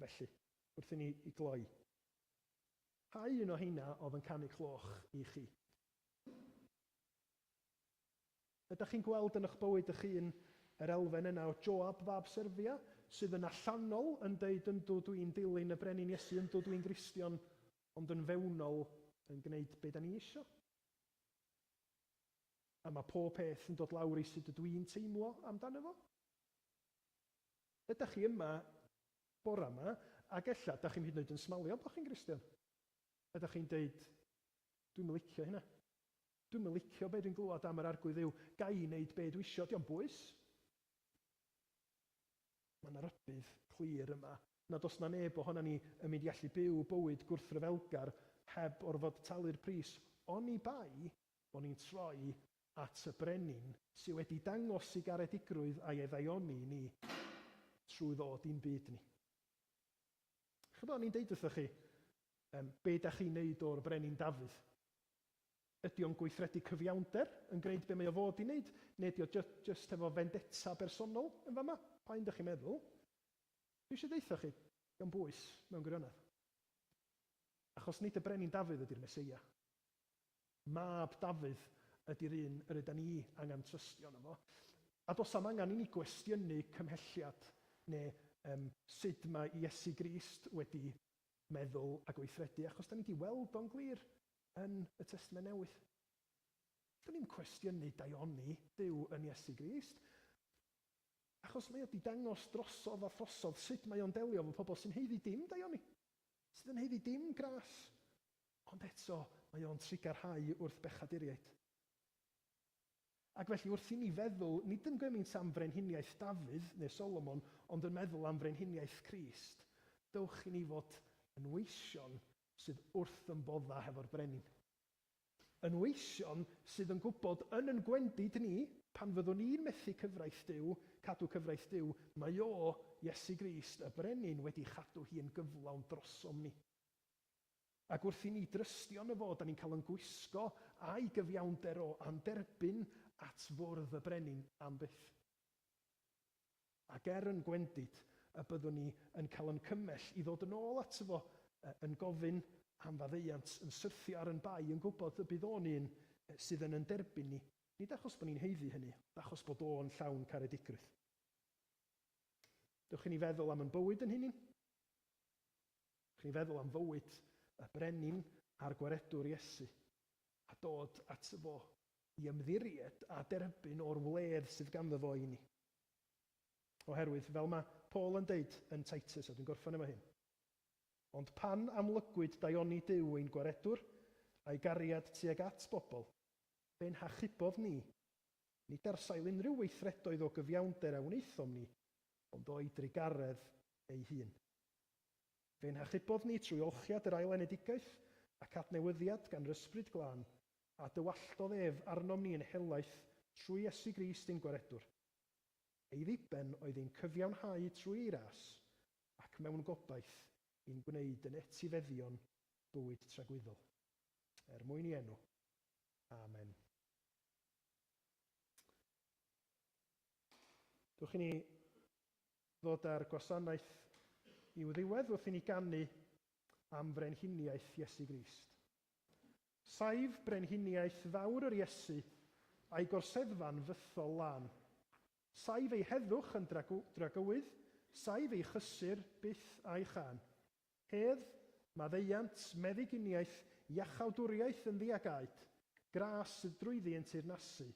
Felly, wrth i ni gloi, pa un o heina oedd yn canu cloch i chi? Ydach chi'n gweld yn ych bywyd ych hun yr elfen yna o Joab fab Serfia, sydd yn allanol yn deud yndw dw i'n dilyn y Brenin Iesu, yndw dw i'n Gristion, ond yn fewnol yn gwneud be da ni isio? A mae pob peth yn dod lawr i sut ydw i'n teimlo amdano fo? Ydach chi yma bore yma ac ella dach chi'm hyd yn oed yn smalio bod chi'n Gristion? Ydach chi'n deud, dwi'm yn licio hynna? Dwi'm yn licio be dwi'n glywed am yr Arglwydd yw, ga i wneud be dwi isio, dio'm bwys. Mae 'na rybudd clir yma nad oes 'na neb ohonan ni yn mynd i allu byw bywyd gwrthryfelgar heb orfod talu'r pris, oni bai bo ni'n troi at y Brenin sy' wedi dangos ei garedigrwydd a'i oddaioni i ni trwy ddod i'n byd ni. Chibod, o'n i'n deud wrthoch chi, be 'da chi'n neud o'r Brenin Dafydd? Ydy o'n gweithredu cyfiawnder, yn gwneud be mae o fod i wneud, neu ydy o jyst efo fendetta bersonol yn fama? Pa un dych chi'n meddwl? Dwi eisiau deutha chi, dio'm bwys, mewn gwirionedd. Achos nid y Brenin Dafydd ydy'r Meseia. Mab Dafydd ydy'r un yr ydan ni angen trystio yno fo. A does na'm angen i ni gwestiynu cymhelliad neu yym sud mae Iesu Grist wedi meddwl a gweithredu, achos 'dan ni 'di weld o'n glir. yn y Testament Newydd. Do'n i'm cwestiynu daioni Duw yn Iesu Grist, achos mae o 'di dangos drosodd a throsodd sut mae o'n delio efo pobl sy'n haeddu dim daioni, sydd yn haeddu dim gras, ond eto mae o'n trigar rhai wrth bechaduriaid. Ac felly wrth i ni feddwl nid yn gymaint am frenhiniaeth Dafydd neu Solomon ond yn meddwl am frenhiniaeth Crist, dewch i ni fod yn weision sydd wrth ymfodda hefo'r brenin. Yn weision sydd yn gwybod yn yn gwendid ni, pan fyddwn ni'n methu cyfraith Duw, cadw cyfraith Duw, mae O, Iesu Grist, y Brenin, wedi chadw hi yn gyflawn drosom ni. Ac wrth i ni drystio yno Fo, 'da ni'n cael yn gwisgo a'i gyfiawnder O, a'n derbyn at fwrdd y brenin am byth. Ac er yn gwendid y byddwn ni yn cael yn cymell i ddod yn ôl ato fo, yn gofyn am faddeuant, yn syrthio ar yn bai, yn gwybod y bydd o'n un sydd yn yn derbyn ni, nid achos bod ni'n haeddu hynny, ond achos bod o'n llawn caredigrwydd. Dewch i ni feddwl am yn bywyd yn hunin. Dewch i ni feddwl am fywyd y brenin a'r gwaredwr Iesu, a dod ato fo i ymddiried a derbyn o'r wledd sydd ganddo fo i ni. Oherwydd, fel mae Paul yn deud yn Titus, a dwi'n gorffen efo hyn, Ond pan amlygwyd daioni Duw ein Gwaredwr, a'i gariad tuag at bobl, fe nhachubodd ni, nid ar sail unrhyw weithredoedd o gyfiawnder a wnaethom ni, ond o'i drugaredd ei hun. Fe nhachubodd ni trwy olchiad yr ail enedigaeth ac adnewyddiad gan yr Ysbryd Glân, A dywalltodd ef arnom ni yn helaeth trwy Iesu Grist ein Gwaredwr. Ei ddiben oedd ein cyfiawnhau trwy ei ras, ac mewn gobaith i'n gwneud yn etifeddion bywyd tragwyddol. Er mwyn i enw. Amen. Dewch i ni ddod â'r gwasanaeth i'w ddiwedd wrth i ni ganu am frenhiniaeth Iesu Grist. Saif brenhiniaeth fawr yr Iesu, a'i gorseddfa'n fythol lân. Saif ei heddwch yn dragywydd, saif ei chysur byth a'i chân. Hedd, maddeuant, meddyginiaeth, iachawdwriaeth yn ddiagaed, gras sydd drwyddi yn teyrnasu,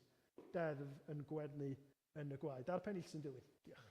deddf yn gwenu yn y gwaed. A'r pennill sy'n dilyn. Diolch.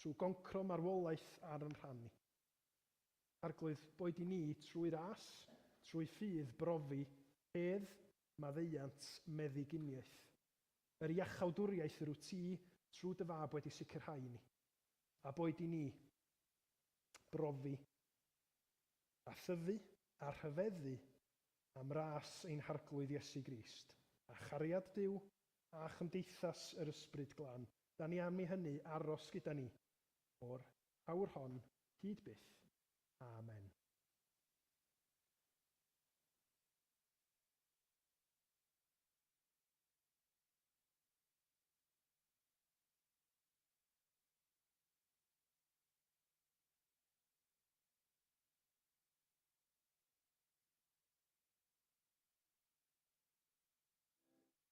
trwy goncro marwolaeth ar yn rhan ni. Arglwydd, boed i ni trwy ras, trwy ffydd, brofi, hedd, maddeuant, meddyginiaeth. Yr iachawdwriaeth yr wyt ti, trwy dy Fab, wedi sicrhau i ni. A boed i ni brofi a thyfu a rhyfeddu am ras ein Harglwydd Iesu Grist, a chariad Duw, a chymdeithas yr Ysbryd Glân, 'da ni am i hynny aros gyda ni, o'r awr hon hyd byth. Amen.